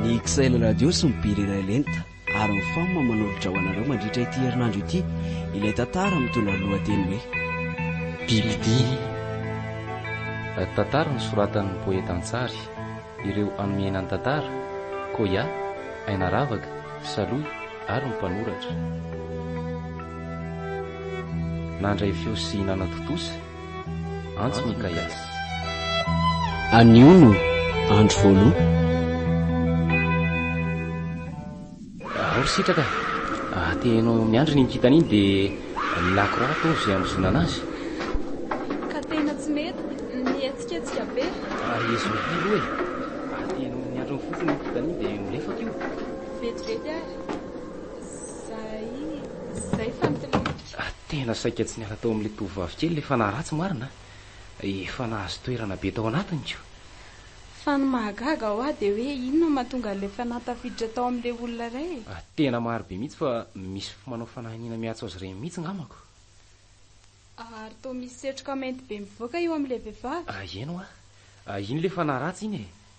Ny XL Radio sy ny Bily iray lenta ary ny fam manolotra ho anareo mandritra ity herinandro ity ilay tantara mitondra ny lohateny hoe Bibidia. Tantara nosoratan'ny poeta an-tsary. Ireo anomena ny tantara, Koya, Aina Ravaka, Saloy ary ny mpanoratra. Nandray feo sy nanatontosa. Antso Mikaias. Anio no andro voaloha. Ao ry Sitraka e! Ahateheno miandry iny kintana iny dia ny lakroa atao izay hamozonana azy. Ka tena tsy mety ny hihetsiketsika be. Ary izy mety aloha e! Ahateheno miandry ny fofony iny kintana iny dia ho lefaka io. Vetivety ary. Izay, izay fanotiliana. Fa tena saika tsy niala tao amin'ilay tovovavy kely ilay fanahy ratsy marina a! Efa nahazo toerana be tao anatiny ko! Fa ny mahagaga ho ahy dia hoe inona no mahatonga an'ilay fanahy tafiditra tao amin'ilay olona iray e? Tena maro be mihitsy fa misy manao fanahiniana miantso azy ireny mihitsy ngamako. Ary toa misy setroka mainty be mivoaka eo amin'ilay vehivavy. Aheno a! Iny ilay fanahy ratsy iny e!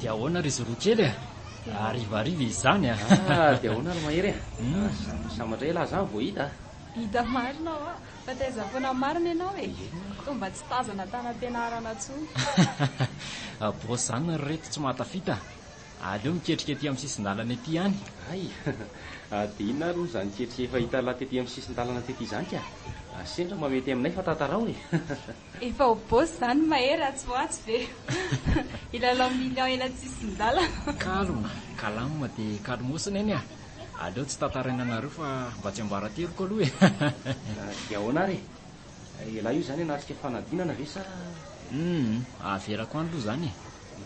Dia ahoana ry Zorro kely a? Harivariva izany a! Ah, dia ahoana ry Mahery a? Hmm. Sambatra ela aho izany vao hita a! Hita marina aho a! Fa taiza foana marina ianao e! Toa mba tsy tazana tany am-pianarana intsony. Bôsy izany ry reto tsy mahatafita. Aleo miketrika ety amin'ny sisin-dalana ety ihany. Hay! Dia inona ary moa izany ketrika efa hita lahy tety amin'ny sisin-dalana tety izany ka? Sendra mba mety aminay fa tantarao e! Efa ho boss zany mahery atsy ho atsy ve? Hilalao millions ela tsy hisin-dalana. Calme, calme dia calmos neny a! Aleo tsy tantaraina anareo fa mba tsy ambarateroko aloha e! Dia ahoana ary e? Elah io zany hanatrika fanadinana ve sa? Humm, averako any aloha zany e!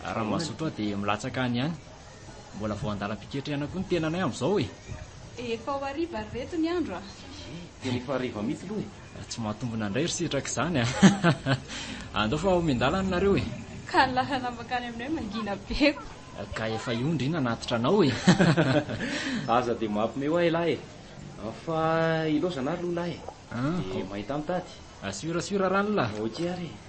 Raha mazoto aho dia milatsaka any ihany. Mbola vao andalam-piketrehana koa ny tenanay amin'izao e! Efa ho hariva ry reto ny andro a! Tena efa hariva mihitsy aloha e! Tsy mahatombina indray ry sitraka izany a! Andao fa ho miandalana nareo e! Ka ny lalana mankany aminay mangina be ko! Ka efa io ndry nanatitra anao e! Aza dia mampme ho ahy lahy e! Fa ilaozana ary loha lahy e! Dia mahita mitady. Assure assure ranla. Ok ary e.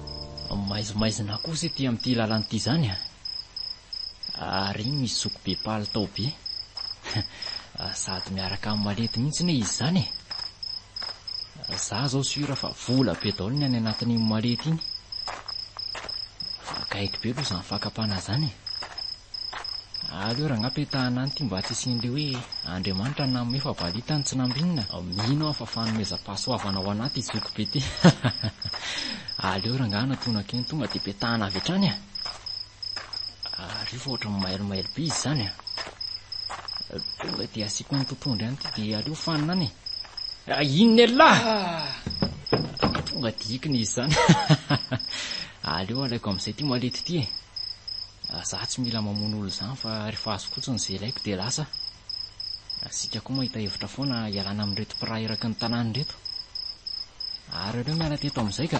Maizimaizina kosa ity amin'ity lalana ity izany a! Ary iny misy zoky be palitao be. Sady miaraka amin'ny malety mihitsy anie izy izany e! Za izao sur fa vola be daholo ny any anatin'iny malety iny. Fa akaiky be aloha izany fakam-panahy izany e! Aleo rangah petahana any ity mba tsy hisian'ilay hoe Andriamanitra nanome fa valita ny tsy nambinina. Mino aho fa fanomezam-pahasoavana ao anaty ity zoky be ity. Aleo rangah anatonako eny tonga dia petahana avy hatrany a! Ary io fa ohatran'ny mailo mailo be izy izany a! Tonga dia asiako ny totohondry any ity dia aleo fanina any e! Inona elah! Tonga dia ikina izy izany. Aleo alaiko amin'izay ity malety ity e! Za tsy mila mamono olona zany fa refa azo fotsiny ze ilaiko de lasa. Asika koa mahita hevitra foana hialana amin'ireto mpiraha iraky ny tanàna ireto. Ary aleo miala teto amin'izay ka.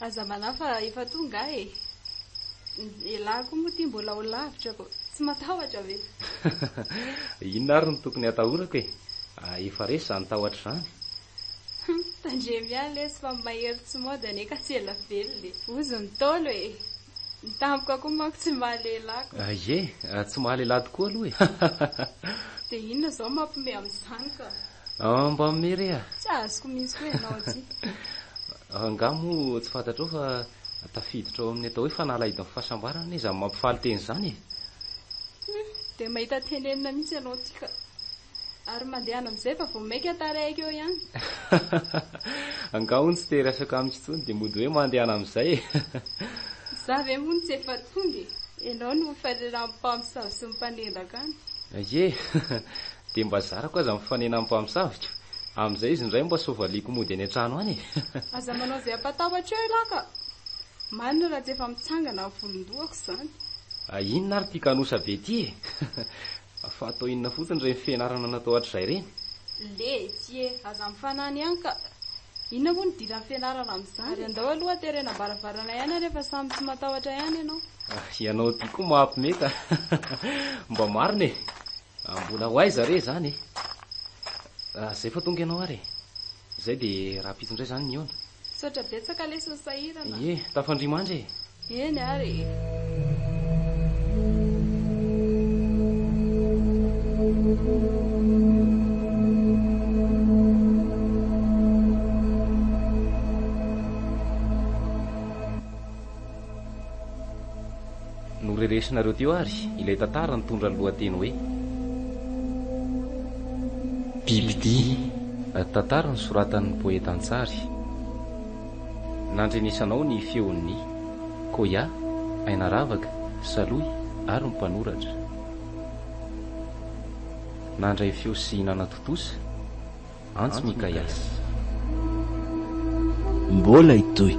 Aza manahy fa efa tonga aho e! Elah koa moa ity mbola ho lavitra ko! Tsy matahotra ve? Inona ary no tokony hatahorako e! Efa resy izany tahotra izany! Hum, tandremo ihany lesy fa ny mahery tsy mody anie ka tsy ela velona e! Ozy ny Ntaolo e! Ny tampoka koa manko tsy mahalehilahy ko! Ie, tsy mahalehilahy tokoa aloha e! Dia inona izao no mampiomehy amin'izany ka? Mba mihomehy re a! Tsy azoko mihitsy koa ianao ity! Angaha moa tsy fantatrao fa tafiditra ao amin'ny atao hoe fanalahidin'ny fahasambarana anie izany mampifaly teny izany e? Humm, dia mahita tenenina mihitsy ianao ity ka! Ary mandehana amin'izay fa vao maika tarehiko eo ihany. Angaha hono tsy te-hiresaka amiko intsony dia mody hoe mandehana amin'izay e? Izaho ve moa no tsy efa tonga e? Ianao no ho fariran'ny mpamosavy sy ny mpanendaka any. Ye! Dia mba zarako aza ny fanenan'ny mpamosaviko. Amin'izay izy indray mba soavaliako mody any an-trano any e! Aza manao izay hampatahotra eo ialahy ka! Marina raha tsy efa mitsangana ny volon-dohako izany. Hay inona ary ity kanosa be ity e! Fa atao inona fotsiny ireny fianarana natao hatrizay ireny? Letsy e! Aza mifanany ihany ka! Inona moa no idiran'ny fianarana amin'izany? Ary andao aloha haterena am-baravarana ihany ary efa samy tsy matahotra ihany ianao. Ianao ity koa maha-mpimeta! Mba marina e! Mbola ho aiza re izany e? Izay fa tonga ianao ary e. Izay dia rahampitso indray izany ny eo-na. Misaotra betsaka lesy ny sahirana. Ie, tafandria mandry e. Eny ary e. Noreresinareo teo ary ilay tantara nitondra ny lohateny hoe Bibidia, tantara nosoratan'ny poeta an-tsary. Nandrenesanao ny feon'ny, Koya, Ainaravaka, Salohy ary ny mpanoratra. Nandray feo sy nanatontosa. Antso Mikaiasy. Mbola hitohy.